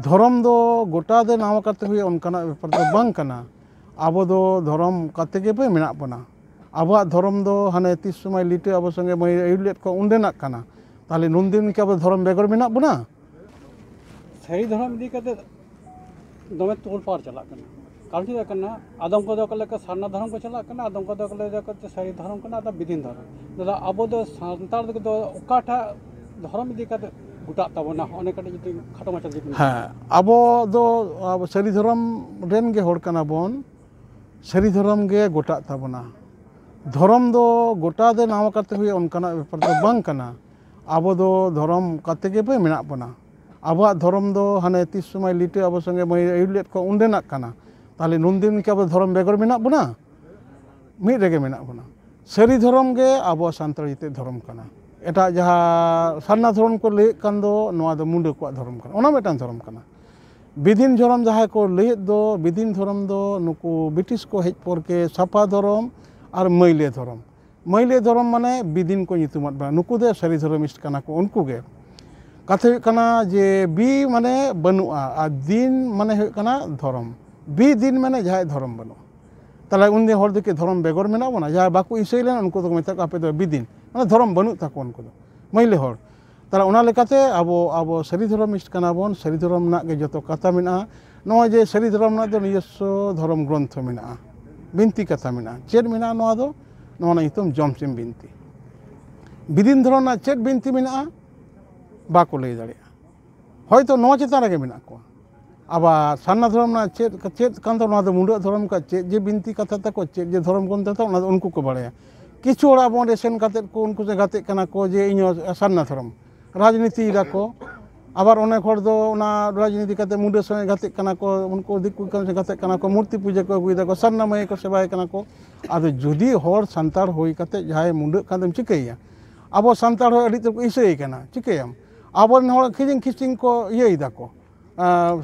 ᱫᱷᱚᱨᱚᱢ ᱫᱚ ᱜᱚᱴᱟ ᱫᱚ ᱱᱟᱣᱟ ᱠᱟᱛᱮ ᱦᱩᱭᱩᱜᱼᱟ ᱚᱱᱠᱟᱱᱟᱜ ᱵᱮᱯᱟᱨ ᱫᱚ ᱵᱟᱝ ᱠᱟᱱᱟ ᱟᱵᱚ ᱫᱚ ᱫᱷᱚᱨᱚᱢ ᱚᱱᱠᱟ ᱛᱮᱜᱮ ᱵᱚᱱ ᱢᱮᱱᱟᱜ ᱵᱚᱱᱟ ᱟᱵᱚᱣᱟᱜ ᱫᱷᱚᱨᱚᱢ ᱫᱚ ᱦᱟᱱᱮ ᱛᱤᱥ ᱥᱚᱢᱚᱭ ᱞᱤᱴᱟᱹ ᱟᱵᱚ ᱥᱚᱸᱜᱮ ᱵᱚᱱ ᱟᱹᱭᱩᱨ ᱞᱮᱫ ᱠᱚᱣᱟ ᱚᱸᱰᱮᱱᱟᱜ ᱠᱟᱱᱟ ᱛᱟᱦᱚᱞᱮ ᱱᱩᱱ ᱫᱤᱱ ᱠᱤ ᱟᱵᱚ ᱫᱷᱚᱨᱚᱢ ᱵᱮᱜᱚᱨ ᱢᱮᱱᱟᱜ ᱵᱚᱱᱟ ᱥᱟᱹᱨᱤ ᱫᱷᱚᱨᱚᱢ ᱤᱫᱤ ᱠᱟᱛᱮ ᱫᱚᱢᱮ ᱛᱳᱲᱯᱟᱲ ᱪᱟᱞᱟᱜ ᱠᱟᱱᱟ ᱠᱟᱨᱚᱱ ᱪᱮᱫ ᱠᱟᱱᱟ ᱟᱫᱚᱢ ᱠᱚᱫᱚ ᱠᱚ ᱞᱟᱹᱭᱟ ᱥᱟᱨᱱᱟ ᱫᱷᱚᱨᱚᱢ ᱠᱚ ᱪᱟᱞᱟᱜ ᱠᱟᱱᱟ ᱟᱫᱚᱢ ᱠᱚᱫᱚ ᱠᱚ ᱞᱟᱹᱭᱟ ᱥᱟᱹᱨᱤ ᱫᱷᱚᱨᱚᱢ ᱠᱟᱱᱟ ᱟᱫᱚ ᱵᱤᱫᱷᱤᱱ ᱫᱷᱚᱨᱚᱢ ᱫᱟᱫᱟ ᱟᱵᱚ ᱫᱚ ᱥᱟᱱᱛᱟᱲ ᱠᱚᱫᱚ ᱚᱠᱟᱴᱟᱜ ᱫᱷᱚᱨᱚᱢ ᱤᱫᱤ ᱠᱟᱛᱮ ᱜᱚᱴᱟᱜ ᱛᱟᱵᱚᱱᱟ ᱚᱱᱮ ᱠᱟᱹᱴᱤᱡ ᱡᱩᱫᱤ ᱠᱷᱟᱴᱚ ᱢᱟᱪᱷᱟ ᱡᱩᱫᱤ ᱦᱮᱸ ᱟᱵᱚ ᱫᱚ ᱟᱵᱚ ᱥᱟᱹᱨᱤ ᱫᱷᱚᱨᱚᱢ ᱨᱮᱱ ᱜᱮ ᱦᱚᱲ ᱠᱟᱱᱟ ᱵᱚᱱ ᱥᱟᱹᱨᱤ ᱫᱷᱚᱨᱚᱢ ᱜᱮ ᱜᱚᱴᱟᱜ ᱛᱟᱵᱚᱱᱟ ᱫᱷᱚᱨᱚᱢ ᱫᱚ ᱜᱚᱴᱟ ᱫᱚ ᱱᱟᱣᱟ ᱠᱟᱛᱮ ᱦᱩᱭᱩᱜᱼᱟ ᱚᱱᱠᱟᱱᱟᱜ ᱵᱮᱯᱟᱨ ᱫᱚ ᱵᱟᱝ ᱠᱟᱱᱟ ᱟᱵᱚ ᱫᱚ ᱫᱷᱚᱨᱚᱢ ᱠᱟᱛᱮ ᱜᱮᱵᱚ ᱢᱮᱱᱟᱜ ᱵᱚᱱᱟ ᱟᱵᱚᱣᱟᱜ ᱫᱷᱚᱨᱚᱢ ᱫᱚ ᱦᱟᱱᱮ ᱛᱤᱥ ᱥᱚᱢᱚᱭ ᱞᱤᱴᱟᱹ ᱟᱵᱚ ᱥᱚᱸᱜᱮ ᱢᱟᱹᱭ ᱟᱹᱭᱩᱨ ᱞᱮᱫ ᱠᱚᱣᱟ ᱚᱸᱰᱮᱱᱟᱜ ᱠᱟᱱᱟ ᱛᱟᱦᱚᱞᱮ ᱱᱩᱱᱫᱤᱱ ᱠᱤ ᱟᱵᱚ ᱫᱷᱚᱨᱚᱢ ᱵᱮᱜᱚᱨ ᱢᱮᱱᱟᱜ ᱵᱚᱱᱟ ᱢᱤᱫ ᱨᱮᱜᱮ ᱢᱮᱱᱟᱜ ᱵᱚᱱᱟ ᱥᱟᱹᱨᱤ ᱫᱷᱚᱨᱚᱢ ᱜᱮ ᱟᱵᱚ ᱥᱟᱱᱛᱟᱲ ᱡᱟᱹᱛᱤᱭᱟᱜ ᱫᱷᱚᱨᱚᱢ ᱠᱟᱱᱟ ᱮᱴᱟᱜ ᱡᱟᱦᱟᱸ ᱥᱟᱨᱱᱟ ᱫᱷᱚᱨᱚᱢ ᱠᱚ ᱞᱟᱹᱭᱮᱫ ᱠᱟᱱ ᱫᱚ ᱱᱚᱣᱟ ᱫᱚ ᱢᱩᱰᱟᱹ ᱠᱚᱣᱟᱜ ᱫᱷᱚᱨᱚᱢ ᱠᱟᱱᱟ ᱚᱱᱟ ᱢᱤᱫᱴᱟᱝ ᱫᱷᱚᱨᱚᱢ ᱠᱟᱱᱟ ᱵᱤᱫᱤᱱ ᱫᱷᱚᱨᱚᱢ ᱡᱟᱦᱟᱸᱭ ᱠᱚ ᱞᱟᱹᱭᱮᱫ ᱫᱚ ᱵᱤᱫᱤᱱ ᱫᱷᱚᱨᱚᱢ ᱫᱚ ᱱᱩᱠᱩ ᱵᱨᱤᱴᱤᱥ ᱠᱚ ᱦᱮᱡ ᱯᱚᱨ ᱜᱮ ᱥᱟᱯᱷᱟ ᱫᱷᱚᱨᱚᱢ ᱟᱨ ᱢᱟᱹᱭᱞᱟᱹ ᱫᱷᱚᱨᱚᱢ ᱢᱟᱹᱭᱞᱟᱹ ᱫᱷᱚᱨᱚᱢ ᱢᱟᱱᱮ ᱵᱤᱫᱤᱱ ᱠᱚ ᱧᱩᱛᱩᱢᱟᱫ ᱵᱚᱱᱟ ᱱᱩᱠᱩ ᱫᱚ ᱥᱟᱹᱨᱤ ᱫᱷᱚᱨᱚᱢᱤᱥᱴ ᱠᱟᱱᱟ ᱠᱚ ᱩᱱᱠᱩ ᱜᱮ ᱠᱟᱛᱷᱟ ᱦᱩᱭᱩᱜ ᱠᱟᱱᱟ ᱡᱮ ᱵᱤ ᱢᱟᱱᱮ ᱵᱟᱹᱱᱩᱜᱼᱟ ᱟᱨ ᱫᱤᱱ ᱢᱟᱱᱮ ᱦᱩᱭᱩᱜ ᱠᱟᱱᱟ ᱫᱷᱚᱨᱚᱢ ᱵᱤ ᱫᱤᱱ ᱢᱟᱱᱮ ᱡᱟᱦᱟᱸᱭᱟᱜ ᱫᱷᱚᱨᱚᱢ ᱵᱟᱹᱱᱩᱜᱼᱟ ᱛᱟᱦᱚᱞᱮ ᱩᱱᱤ ᱦᱚᱲ ᱫᱚ ᱠᱤ ᱫᱷᱚᱨᱚᱢ ᱵᱮᱜᱚᱨ ᱢᱮᱱᱟᱜ ᱵᱚᱱᱟ ᱡᱟᱦᱟᱸᱭ ᱵᱟᱠᱚ ᱤᱥᱟᱹᱭ ᱞᱮᱱᱟ ᱩᱱᱠᱩ ᱫᱚᱠᱚ ᱢᱮᱛᱟᱜ ᱠᱚᱣᱟ ᱟᱯᱮ ᱫᱚ ᱵᱤᱫᱤᱱ ᱢᱟᱱᱮ ᱫᱷᱚᱨᱚᱢ ᱵᱟᱹᱱᱩᱜ ᱛᱟᱠᱚᱣᱟ ᱩᱱᱠᱩ ᱫᱚ ᱢᱟᱹᱭᱞᱟᱹ ᱦᱚᱲ ᱛᱟᱦᱚᱞᱮ ᱚᱱᱟ ᱞᱮᱠᱟᱛᱮ ᱟᱵᱚ ᱟᱵᱚ ᱥᱟᱹᱨᱤ ᱫᱷᱚᱨᱚᱢᱤᱥᱴ ᱠᱟᱱᱟ ᱵᱚᱱ ᱥᱟᱹᱨᱤ ᱫᱷᱚᱨᱚᱢ ᱨᱮᱱᱟᱜ ᱜᱮ ᱡᱚᱛᱚ ᱠᱟᱛᱷᱟ ᱢᱮᱱᱟᱜᱼᱟ ᱱᱚᱜᱼᱚᱭ ᱡᱮ ᱥᱟᱹᱨᱤ ᱫᱷᱚᱨᱚᱢ ᱨᱮᱱᱟᱜ ᱫᱚ ᱱᱤᱡᱚᱥᱥᱚ ᱫᱷᱚᱨᱚᱢ ᱜᱨᱚᱱᱛᱷᱚ ᱢᱮᱱᱟᱜᱼᱟ ᱵᱤᱱᱛᱤ ᱠᱟᱛᱷᱟ ᱢᱮᱱᱟᱜᱼᱟ ᱪᱮᱫ ᱢᱮᱱᱟᱜᱼᱟ ᱱᱚᱣᱟ ᱫᱚ ᱱᱚᱣᱟ ᱨᱮᱱᱟᱜ ᱧᱩᱛᱩᱢ ᱡᱚᱢᱥᱤᱢ ᱵᱤᱱᱛᱤ ᱵᱤᱫᱤᱱ ᱫᱷᱚᱨᱚᱢ ᱨᱮᱱᱟᱜ ᱪᱮᱫ ᱵᱤᱱᱛᱤ ᱢᱮᱱᱟᱜᱼᱟ ᱵᱟᱠᱚ ᱞᱟᱹᱭ ᱫᱟᱲᱮᱭᱟᱜᱼᱟ ᱦᱳᱭᱛᱳ ᱱᱚᱣᱟ ᱪᱮᱛᱟᱱ ᱨᱮᱜᱮ ᱢᱮᱱᱟᱜ ᱠᱚᱣᱟ ᱟᱵᱟᱨ ᱥᱟᱨᱱᱟ ᱫᱷᱚᱨᱚᱢ ᱨᱮᱱᱟᱜ ᱪᱮᱫ ᱪᱮᱫ ᱠᱟᱱ ᱛᱟᱵᱚᱱᱟ ᱚᱱᱟ ᱫᱚ ᱢᱩᱰᱟᱹ ᱫᱷᱚᱨᱚᱢ ᱠᱚᱣᱟᱜ ᱪᱮᱫ ᱡᱮ ᱵᱤᱱᱛᱤ ᱠᱟᱛᱷᱟ ᱛᱟᱠᱚ ᱪᱮᱫ ᱡᱮ ᱫᱷᱚᱨᱚᱢ ᱠᱚ ᱢᱮᱛᱟᱜᱼᱟ ᱚᱱᱟ ᱫᱚ ᱩᱱᱠᱩ ᱠᱚ ᱵᱟᱲᱟᱭᱟ ᱠᱤᱪᱷᱩ ᱦᱚᱲ ᱟᱵᱚ ᱚᱸᱰᱮ ᱥᱮᱱ ᱠᱟᱛᱮ ᱠᱚ ᱩᱱᱠᱩ ᱥᱟᱛᱮ ᱜᱟᱛᱮᱜ ᱠᱟᱱᱟ ᱠᱚ ᱡᱮ ᱤᱧ ᱦᱚᱸ ᱥᱟᱨᱱᱟ ᱫᱷᱚᱨᱚᱢ ᱨᱟᱡᱽᱱᱤᱛᱤᱭ ᱫᱟᱠᱚ ᱟᱵᱟᱨ ᱚᱱᱮᱠ ᱦᱚᱲ ᱫᱚ ᱚᱱᱟ ᱨᱟᱡᱽᱱᱤᱛᱤ ᱠᱟᱛᱮ ᱢᱩᱰᱟᱹ ᱥᱚᱸᱜᱮ ᱜᱟᱛᱮᱜ ᱠᱟᱱᱟ ᱠᱚ ᱩᱱᱠᱩ ᱫᱤᱠᱩ ᱠᱚ ᱥᱟᱛᱮ ᱜᱟᱛᱮᱜ ᱠᱟᱱᱟ ᱠᱚ ᱢᱩᱨᱛᱤ ᱯᱩᱡᱟᱹ ᱠᱚ ᱟᱹᱜᱩᱭ ᱫᱟᱠᱚ ᱥᱟᱨᱱᱟ ᱢᱟᱹᱭ ᱠᱚ ᱥᱮᱵᱟᱭᱮ ᱠᱟᱱᱟ ᱠᱚ ᱟᱫᱚ ᱡᱩᱫᱤ ᱦᱚᱲ ᱥᱟᱱᱛᱟᱲ ᱦᱩᱭ ᱠᱟᱛᱮ ᱡᱟᱦᱟᱸᱭ ᱢᱩᱰᱟᱹᱜ ᱠᱟᱱ ᱫᱚᱢ ᱪᱤᱠᱟᱹᱭᱮᱭᱟ ᱟᱵᱚ ᱥᱟᱱᱛᱟᱲ ᱦᱚᱲ ᱟᱹᱰᱤ ᱩᱛᱟᱹᱨ ᱠᱚ ᱦᱤᱥᱟᱹᱭᱮ ᱠᱟᱱᱟ ᱪᱤᱠᱟᱹᱭᱟᱢ ᱟᱵᱚᱨᱮᱱ ᱦᱚᱲ ᱠᱤᱨᱤᱧ ᱠᱷᱤᱪᱤᱝ ᱠᱚ ᱤᱭᱟᱹᱭ ᱫᱟᱠᱚ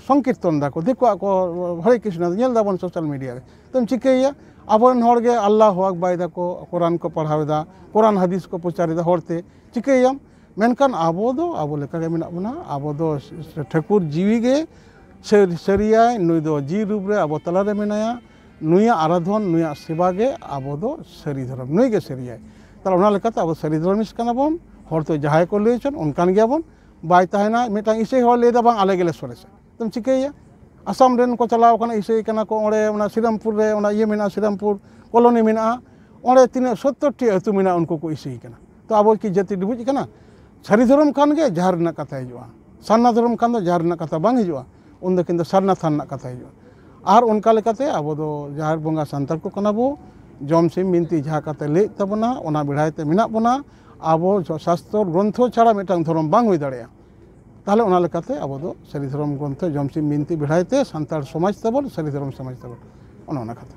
ᱥᱚᱝᱠᱤᱨᱛᱚᱱ ᱫᱟᱠᱚ ᱫᱤᱠᱩᱣᱟᱜ ᱠᱚ ᱦᱚᱨᱮ ᱠᱨᱤᱥᱱᱚ ᱧᱮᱞ ᱫᱟᱵᱚᱱ ᱥᱳᱥᱟᱞ ᱢᱤᱰᱤᱭᱟ ᱨᱮ ᱛᱚᱢ ᱪᱤᱠᱟᱹᱭᱮᱭᱟ ᱟᱵᱚᱨᱮᱱ ᱦᱚᱲ ᱜᱮ ᱟᱞᱞᱟ ᱦᱚᱸ ᱟᱠᱵᱟᱨ ᱫᱟᱠᱚ ᱠᱳᱨᱟᱱ ᱠᱚ ᱯᱟᱲᱦᱟᱣ ᱮᱫᱟ ᱠᱳᱨᱟᱱ ᱦᱟᱹᱫᱤᱥ ᱠᱚ ᱯᱨᱚᱪᱟᱨ ᱮᱫᱟ ᱦᱚᱲᱛᱮ ᱪᱤᱠᱟᱹᱭᱮᱭᱟᱢ ᱢᱮᱱᱠᱷᱟᱱ ᱟᱵᱚ ᱫᱚ ᱟᱵᱚ ᱞᱮᱠᱟᱜᱮ ᱢᱮᱱᱟᱜ ᱵᱚᱱᱟ ᱟᱵᱚ ᱫᱚ ᱴᱷᱟᱹᱠᱩᱨ ᱡᱤᱣᱤ ᱜᱮ ᱥᱟᱹᱨᱤᱭᱟᱭ ᱱᱩᱭ ᱫᱚ ᱡᱤᱣᱤ ᱨᱩᱯ ᱨᱮ ᱟᱵᱚ ᱛᱟᱞᱟᱨᱮ ᱢᱮᱱᱟᱭᱟ ᱱᱩᱭᱟᱜ ᱟᱨᱟᱫᱷᱚᱱ ᱱᱩᱭᱟᱜ ᱥᱮᱵᱟ ᱜᱮ ᱟᱵᱚ ᱫᱚ ᱥᱟᱹᱨᱤ ᱫᱷᱚᱨᱚᱢ ᱱᱩᱭ ᱜᱮ ᱥᱟᱹᱨᱤᱭᱟᱭ ᱛᱟᱦᱚᱞᱮ ᱚᱱᱟ ᱞᱮᱠᱟᱛᱮ ᱟᱵᱚ ᱥᱟᱹᱨᱤ ᱫᱷᱚᱨᱚᱢᱤᱥ ᱠᱟᱱᱟ ᱵᱚᱱ ᱦᱚᱲ ᱫᱚ ᱡᱟᱦᱟᱸᱭ ᱠᱚ ᱞᱟᱹᱭ ᱦᱚᱪᱚᱱ ᱚᱱᱠᱟᱱ ᱜᱮᱭᱟ ᱵᱚᱱ ᱵᱟᱭ ᱛᱟᱦᱮᱱᱟ ᱢᱤᱫᱴᱟᱝ ᱤᱥᱟᱹᱭ ᱦᱚᱲ ᱞᱟᱹᱭᱫᱟ ᱵᱟᱝ ᱟᱞᱮ ᱜᱮᱞᱮ ᱥᱚᱨᱮᱥᱟ ᱟᱫᱚᱢ ᱪᱤᱠᱟᱹᱭᱮᱭᱟ ᱟᱥᱟᱢ ᱨᱮᱱ ᱠᱚ ᱪᱟᱞᱟᱣ ᱠᱟᱱᱟ ᱤᱥᱟᱹᱭ ᱠᱟᱱᱟ ᱠᱚ ᱚᱸᱰᱮ ᱚᱱᱟ ᱥᱨᱤᱨᱟᱢᱯᱩᱨ ᱨᱮ ᱚᱱᱟ ᱤᱭᱟᱹ ᱢᱮᱱᱟᱜᱼᱟ ᱥᱨᱤᱨᱟᱢᱯᱩᱨ ᱠᱚᱞᱚᱱᱤ ᱢᱮᱱᱟᱜᱼᱟ ᱚᱸᱰᱮ ᱛᱤᱱᱟᱹᱜ ᱥᱚᱛᱛᱚᱨ ᱴᱤ ᱟᱹᱛᱩ ᱢᱮᱱᱟᱜᱼᱟ ᱩᱱᱠᱩ ᱠᱚ ᱤᱥᱟᱹᱭ ᱠᱟᱱᱟ ᱛᱚ ᱟᱵᱚ ᱠᱤ ᱡᱟᱹᱛᱤ ᱰᱩᱵᱩᱡ ᱠᱟᱱᱟ ᱥᱟᱹᱨᱤ ᱫᱷᱚᱨᱚᱢ ᱠᱷᱟᱱ ᱜᱮ ᱡᱟᱦᱮᱨ ᱨᱮᱱᱟᱜ ᱠᱟᱛᱷᱟ ᱦᱤᱡᱩᱜᱼᱟ ᱥᱟᱨᱱᱟ ᱫᱷᱚᱨᱚᱢ ᱠᱷᱟᱱ ᱫᱚ ᱡᱟᱦᱮᱨ ᱨᱮᱱᱟᱜ ᱠᱟᱛᱷᱟ ᱵᱟᱝ ᱦᱤᱡᱩᱜᱼᱟ ᱩᱱ ᱫᱚ ᱠᱤᱱᱛᱩ ᱥᱟᱨᱱᱟ ᱛᱷᱟᱱ ᱨᱮᱱᱟᱜ ᱠᱟᱛᱷᱟ ᱦᱤᱡᱩᱜᱼᱟ ᱟᱨ ᱚᱱᱠᱟ ᱞᱮᱠᱟᱛᱮ ᱟᱵᱚ ᱫᱚ ᱡᱟᱦᱮᱨ ᱵᱚᱸᱜᱟ ᱥᱟᱱᱛᱟᱲ ᱠᱚ ᱠᱟᱱᱟ ᱵᱚ ᱡᱚᱢ ᱥᱤᱢ ᱵᱤᱱᱛᱤ ᱡᱟᱦᱟᱸ ᱠᱟᱛᱷᱟ ᱞᱟᱹᱭᱮᱫ ᱛᱟᱵᱚᱱᱟ ᱚᱱᱟ ᱵᱮᱲᱦᱟᱭ ᱛᱮ ᱢᱮᱱᱟᱜ ᱵᱚᱱᱟ ᱟᱵᱚ ᱥᱟᱥᱛᱚᱨ ᱜᱨᱚᱱᱛᱷᱚ ᱪᱷᱟᱲᱟ ᱢᱤᱫᱴᱟᱝ ᱫᱷᱚᱨᱚᱢ ᱵᱟᱝ ᱦᱩᱭ ᱫᱟᱲᱮᱭᱟᱜᱼᱟ ᱛᱟᱦᱚᱞᱮ ᱚᱱᱟ ᱞᱮᱠᱟᱛᱮ ᱟᱵᱚ ᱫᱚ ᱥᱟᱹᱨᱤ ᱫᱷᱚᱨᱚᱢ ᱜᱨᱚᱱᱛᱷᱚ ᱡᱚᱢ ᱥᱤᱢ ᱵᱤᱱᱛᱤ ᱵᱮᱲᱦᱟᱭ ᱛᱮ ᱥᱟᱱᱛᱟᱲ ᱥᱚᱢᱟᱡᱽ ᱛᱟᱵᱚᱱ ᱥᱟᱹᱨᱤ ᱫᱷᱚᱨᱚᱢ ᱥᱚᱢᱟᱡᱽ ᱛᱟᱵᱚᱱ ᱚᱱᱮ ᱚᱱᱟ ᱠᱟᱛᱷᱟ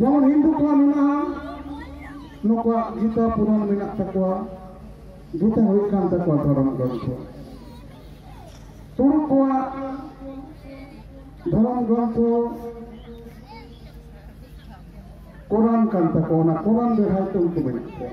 ᱡᱮᱢᱚᱱ ᱦᱤᱱᱫᱩ ᱠᱚᱣᱟᱜ ᱢᱮᱱᱟᱜᱼᱟ ᱱᱩᱠᱩᱣᱟᱜ ᱜᱤᱛᱟ ᱯᱩᱨᱟᱱ ᱢᱮᱱᱟᱜ ᱛᱟᱠᱚᱣᱟ ᱜᱤᱛᱟ ᱦᱩᱭᱩᱜ ᱠᱟᱱ ᱛᱟᱠᱚᱣᱟ ᱫᱷᱚᱨᱚᱢ ᱜᱨᱚᱱᱛᱷᱚ ᱛᱩᱲᱩᱠ ᱠᱚᱣᱟᱜ ᱫᱷᱚᱨᱚᱢ ᱜᱨᱚᱱᱛᱷᱚ ᱠᱚᱨᱟᱱ ᱠᱟᱱ ᱛᱟᱠᱚᱣᱟ ᱚᱱᱟ ᱠᱚᱨᱟᱱ ᱵᱮᱲᱦᱟᱭ ᱛᱮ ᱩᱱᱠᱩ ᱢᱮᱱᱟᱜ ᱠᱚᱣᱟ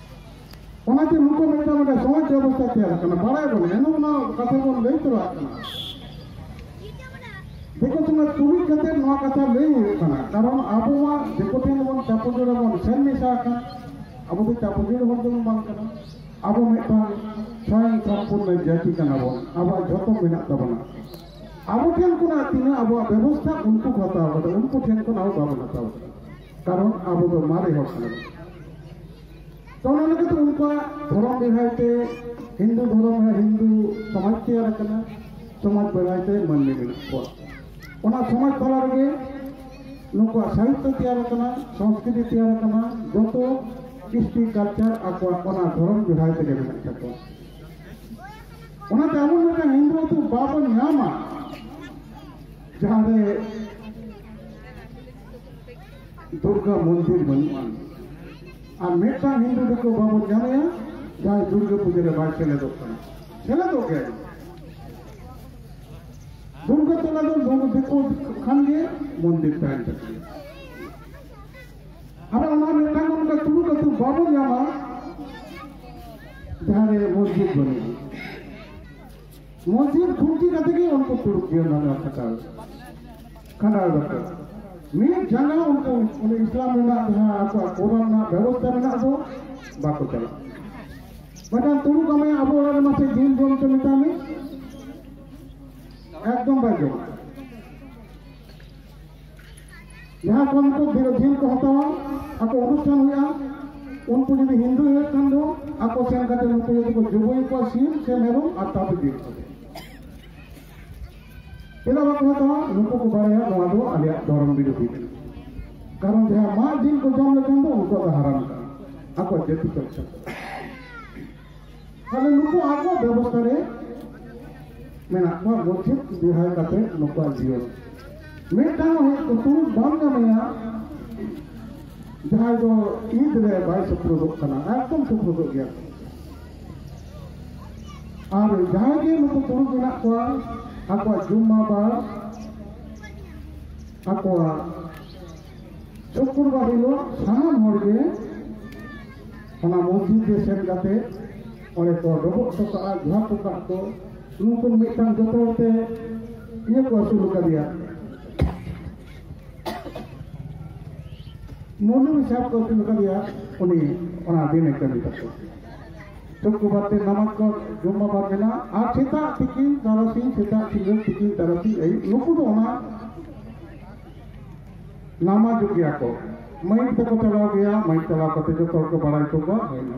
ᱚᱱᱟᱛᱮ ᱱᱩᱠᱩ ᱢᱤᱫᱴᱟᱝ ᱢᱤᱫᱴᱟᱝ ᱥᱚᱢᱟᱡᱽ ᱵᱮᱵᱚᱥᱛᱷᱟ ᱛᱮᱭᱟᱨ ᱠᱟᱱᱟ ᱵᱟᱲᱟᱭ ᱵᱚᱱ ᱮᱱ ᱚᱱᱟ ᱠᱟᱛᱷᱟ ᱵᱚᱱ ᱞᱟᱹᱭ ᱛᱚᱨᱟᱜ ᱠᱟᱱᱟ ᱫᱤᱠᱩ ᱥᱚᱢᱟᱡᱽ ᱛᱩᱞᱩᱡ ᱠᱟᱛᱮ ᱱᱚᱣᱟ ᱠᱟᱛᱷᱟ ᱞᱟᱹᱭ ᱦᱩᱭᱩᱜ ᱠᱟᱱᱟ ᱠᱟᱨᱚᱱ ᱟᱵᱚ ᱢᱟ ᱫᱤᱠᱩ ᱴᱷᱮᱱ ᱵᱚᱱ ᱪᱟᱯᱚᱡᱚᱲ ᱵᱚᱱ ᱥᱮᱱ ᱢᱮᱥᱟ ᱟᱠᱟᱱ ᱟᱵᱚ ᱫᱚ ᱪᱟᱯᱚᱡᱚᱲ ᱦᱚᱲ ᱫᱚᱵᱚᱱ ᱵᱟᱝ ᱠᱟᱱᱟ ᱟᱵᱚ ᱢᱤᱫᱴᱟᱝ ᱥᱚᱭᱚᱝ ᱥᱚᱢᱯᱩᱨᱱᱚ ᱡᱟᱹᱛᱤ ᱠᱟᱱᱟ ᱵᱚᱱ ᱟᱵᱚᱣᱟᱜ ᱡᱷᱚᱛᱚ ᱢᱮᱱᱟᱜ ᱛᱟᱵᱚᱱᱟ ᱟᱵᱚ ᱴᱷᱮᱱ ᱠᱷᱚᱱᱟᱜ ᱛᱤᱱᱟᱹᱜ ᱟᱵᱚᱣᱟᱜ ᱵᱮᱵᱚᱥᱛᱷᱟ ᱩᱱᱠᱩ ᱠᱚ ᱦᱟᱛᱟᱣ ᱠᱟᱫᱟ ᱩᱱᱠᱩ ᱴᱷᱮᱱ ᱠᱷᱚᱱ ᱟᱵᱚ ᱵᱟᱵᱚᱱ ᱦᱟᱛᱟᱣ ᱠᱟᱫᱟ ᱠᱟᱨᱚᱱ ᱟᱵᱚ ᱫᱚ ᱢᱟᱨᱮ ᱦᱚᱲ ᱠᱟᱱᱟ ᱛᱚ ᱚᱱᱟ ᱞᱮᱠᱟᱛᱮ ᱩᱱᱠᱩᱣᱟᱜ ᱫᱷᱚᱨᱚᱢ ᱵᱮᱲᱦᱟᱭ ᱛᱮ ᱦᱤᱱᱫᱩ ᱫᱷᱚᱨᱚᱢ ᱨᱮ ᱦᱤᱱᱫᱩ ᱥᱚᱢᱟᱡᱽ ᱛᱮᱭᱟᱨ ᱟᱠᱟᱱᱟ ᱥᱚᱢᱟᱡᱽ ᱵᱮᱲᱦᱟᱭ ᱛᱮ ᱢᱟᱹᱱᱢᱤ ᱢᱮᱱᱟᱜ ᱠᱚᱣᱟ ᱚᱱᱟ ᱥᱚᱢᱟᱡᱽ ᱛᱟᱞᱟ ᱨᱮᱜᱮ ᱱᱩᱠᱩᱣᱟᱜ ᱥᱟᱦᱤᱛᱭᱚ ᱛᱮᱭᱟᱨ ᱟᱠᱟᱱᱟ ᱥᱚᱝᱥᱠᱨᱤᱛᱤ ᱛᱮᱭᱟᱨ ᱟᱠᱟᱱᱟ ᱡᱚᱛᱚ ᱠᱤᱥᱴᱤ ᱠᱟᱞᱪᱟᱨ ᱟᱠᱚᱣᱟᱜ ᱚᱱᱟ ᱫᱷᱚᱨᱚᱢ ᱵᱮᱲᱦᱟᱭ ᱛᱮᱜᱮ ᱢᱮᱱᱟᱜ ᱛᱟᱠᱚᱣᱟ ᱚᱱᱟᱛᱮ ᱟᱵᱚ ᱢᱤᱫᱴᱟᱝ ᱦᱤᱱᱫᱩ ᱟᱹᱛᱩ ᱵᱟᱵᱚᱱ ᱧᱟᱢᱟ ᱡᱟᱦᱟᱸᱨᱮ ᱫᱩᱨᱜᱟ ᱢᱚᱱᱫᱤᱨ ᱵᱟᱹᱱᱩᱜᱼᱟ ᱟᱨ ᱢᱤᱫᱴᱟᱝ ᱦᱤᱱᱫᱩ ᱫᱤᱠᱩ ᱵᱟᱵᱚᱱ ᱧᱟᱢᱮᱭᱟ ᱡᱟᱦᱟᱸᱭ ᱫᱩᱨᱜᱟ ᱯᱩᱡᱟᱹ ᱨᱮ ᱵᱟᱭ ᱥᱮᱞᱮᱫᱚᱜ ᱠᱟᱱᱟ ᱥᱮᱞᱮᱫᱚᱜ ᱜᱮ ᱫᱩᱨᱜᱟ ᱛᱚᱞᱟ ᱫᱚ ᱫᱩᱨᱜᱟ ᱫᱤᱠᱩ ᱠᱷᱟᱱ ᱜᱮ ᱢᱚᱱᱫᱤᱨ ᱛᱟᱦᱮᱱ ᱛᱟᱠᱚᱣᱟ ᱟᱨ ᱚᱱᱟ ᱢᱤᱫᱴᱟᱝ ᱚᱱᱠᱟ ᱛᱩᱲᱩᱠ ᱟᱹᱛᱩ ᱵᱟᱵᱚᱱ ᱧᱟᱢᱟ ᱡᱟᱦᱟᱸ ᱨᱮ ᱢᱚᱥᱡᱤᱫ ᱵᱟᱹᱱᱩᱜᱼᱟ ᱢᱚᱥᱡᱤᱫ ᱠᱷᱩᱱᱴᱤ ᱠᱟᱛᱮ ᱜᱮ ᱩᱱᱠᱩ ᱠᱩᱲᱩᱵ ᱡᱤᱭᱚᱱ ᱫᱚ ᱠᱷᱟᱴᱟᱣ ᱠᱷᱟᱸᱰᱟᱣ ᱫᱟᱠᱚ ᱢᱤᱫ ᱡᱟᱸᱜᱟ ᱩᱱᱠᱩ ᱚᱱᱮ ᱤᱥᱞᱟᱢ ᱨᱮᱱᱟᱜ ᱡᱟᱦᱟᱸ ᱟᱠᱚᱣᱟᱜ ᱠᱚᱨᱚᱱ ᱨᱮᱱᱟᱜ ᱵᱮᱵᱚᱥᱛᱷᱟ ᱨᱮᱱᱟᱜ ᱫᱚ ᱵᱟᱠᱚ ᱪᱟᱞᱟᱜ ᱢᱤᱫᱴᱟᱝ ᱛᱩᱲᱩ ᱠᱟᱢᱮ ᱟᱵᱚ ᱚᱲᱟᱜ ᱨᱮ ᱢᱟᱥᱮ ᱡᱤᱞ ᱡᱚᱢ ᱪᱚ ᱢᱮᱛᱟᱢᱮ ᱮᱠᱫᱚᱢ ᱵᱟᱭ ᱡᱚᱢᱟ ᱡᱟᱦᱟᱸ ᱠᱚ ᱱᱩᱠᱩ ᱵᱤᱨᱳᱫᱷᱤ ᱠᱚ ᱦᱟᱛᱟᱣᱟ ᱟᱠᱚ ᱚᱱᱩᱥᱴᱷᱟᱱ ᱦᱩᱭᱩᱜᱼᱟ ᱩᱱᱠᱩ ᱡᱩᱫᱤ ᱦᱤᱱᱫᱩ ᱦᱩᱭᱩᱜ ᱠᱷᱟᱱ ᱫᱚ ᱟᱠᱚ ᱥᱮᱱ ᱠᱟᱛᱮ ᱱᱩᱠᱩ ᱡᱩᱫᱤ ᱠᱚ ᱡᱩᱵᱩᱭ ᱠᱚᱣᱟ ᱥᱤᱢ ᱥᱮ ᱢᱮᱨᱚᱢ ᱟᱨ ᱛᱟᱯᱮ ᱵᱤᱨ ᱠᱚᱛᱮ ᱪᱮᱫᱟᱜ ᱵᱟᱠᱚ ᱦᱟᱛᱟᱣᱟ ᱱᱩᱠᱩ ᱠᱚ ᱵᱟᱲᱟᱭᱟ ᱱᱚᱣᱟ ᱫᱚ ᱟᱞᱮᱭᱟᱜ ᱫᱷᱚᱨᱚᱢ ᱵᱤᱨᱳᱫᱷᱤ ᱠᱟᱱᱟ ᱠᱟᱨᱚᱱ ᱡᱟᱦᱟᱸ ᱢᱟᱜ ᱡᱤᱞ ᱠᱚ ᱡᱚᱢ ᱞᱮᱠᱷᱟᱱ ᱫᱚ ᱩᱱᱠᱩᱣᱟᱜ ᱫᱚ ᱦᱟᱨᱟᱢ ᱠᱟᱱᱟ ᱟᱠᱚ ᱡᱟᱹᱛᱤ ᱠᱚ ᱛᱟᱦᱞᱮ ᱱᱩᱠᱩ ᱟᱠᱚ ᱵᱮᱵᱚᱥᱛᱷᱟ ᱨᱮ ᱢᱮᱱᱟᱜ ᱠᱚᱣᱟ ᱜᱚᱪᱷᱤᱛ ᱵᱤᱦᱟᱭ ᱠᱟᱛᱮ ᱱᱩᱠᱩᱣᱟᱜ ᱡᱤᱭᱚᱱ ᱢᱤᱫᱴᱟᱝ ᱦᱮᱡ ᱠᱩᱛᱩ ᱵᱟᱢ ᱧᱟᱢᱮᱭᱟ ᱡᱟᱦᱟᱸᱭ ᱫᱚ ᱤᱫ ᱨᱮ ᱵᱟᱭ ᱥᱩᱯᱨᱩᱫᱚᱜ ᱠᱟᱱᱟ ᱮᱠᱫᱚᱢ ᱥᱩᱯᱨᱩᱫᱚᱜ ᱜᱮᱭᱟ ᱟᱨ ᱡᱟᱦᱟᱸᱭ ᱜᱮ ᱱᱩᱠᱩ ᱛᱩᱲᱩᱠ ᱢᱮᱱᱟᱜ ᱠᱚᱣᱟ ᱟᱠᱚᱣᱟᱜ ᱡᱩᱢᱢᱟ ᱵᱟᱨ ᱟᱠᱚᱣᱟᱜ ᱥᱩᱠᱨᱵᱟᱨ ᱦᱤᱞᱳᱜ ᱥᱟᱱᱟᱢ ᱦᱚᱲᱜᱮ ᱚᱱᱟ ᱢᱚᱥᱡᱤᱫ ᱨᱮ ᱥᱮᱱ ᱠᱟᱛᱮ ᱚᱸᱰᱮ ᱠᱚ ᱰᱚᱵᱚᱜ ᱦᱚᱴᱚ ᱠᱟᱜᱼᱟ ᱡᱚᱦᱟᱨ ᱦᱚᱴᱚ ᱠᱟᱜ ᱠᱚ ᱱᱩᱠᱩ ᱢᱤᱫᱴᱟᱝ ᱡᱚᱛᱚ ᱦᱚᱲᱛᱮ ᱤᱭᱟᱹ ᱠᱚ ᱟᱹᱥᱩᱞ ᱟᱠᱟᱫᱮᱭᱟ ᱢᱚᱱᱩ ᱥᱟᱦᱮᱵ ᱠᱚ ᱟᱹᱥᱩᱞ ᱟᱠᱟᱫᱮᱭᱟ ᱩᱱᱤ ᱚᱱᱟ ᱫᱤᱱᱮ ᱠᱟᱹᱢᱤ ᱛᱟᱠᱚ ᱥᱩᱠᱨᱵᱟᱨ ᱛᱮ ᱱᱟᱢᱟᱡᱽ ᱠᱚ ᱡᱚᱢ ᱵᱟᱵᱟᱨ ᱢᱮᱱᱟᱜᱼᱟ ᱟᱨ ᱥᱮᱛᱟᱜ ᱛᱤᱠᱤᱱ ᱛᱟᱨᱟᱥᱤᱧ ᱥᱮᱛᱟᱜ ᱥᱤᱸᱜᱟᱹᱲ ᱛᱤᱠᱤᱱ ᱛᱟᱨᱟᱥᱤᱧ ᱟᱹᱭᱩᱵ ᱱᱩᱠᱩ ᱫᱚ ᱚᱱᱟ ᱱᱟᱢᱟ ᱡᱩᱜᱤᱭᱟ ᱠᱚ ᱢᱟᱹᱭᱤᱠ ᱛᱮᱠᱚ ᱪᱟᱞᱟᱣ ᱜᱮᱭᱟ ᱢᱟᱹᱭᱤᱠ ᱪᱟᱞᱟᱣ ᱠᱟᱛᱮ ᱡᱚᱛᱚ ᱦᱚᱲ ᱠᱚ ᱵᱟᱲᱟᱭ ᱦᱚᱪᱚ ᱠᱚᱣᱟ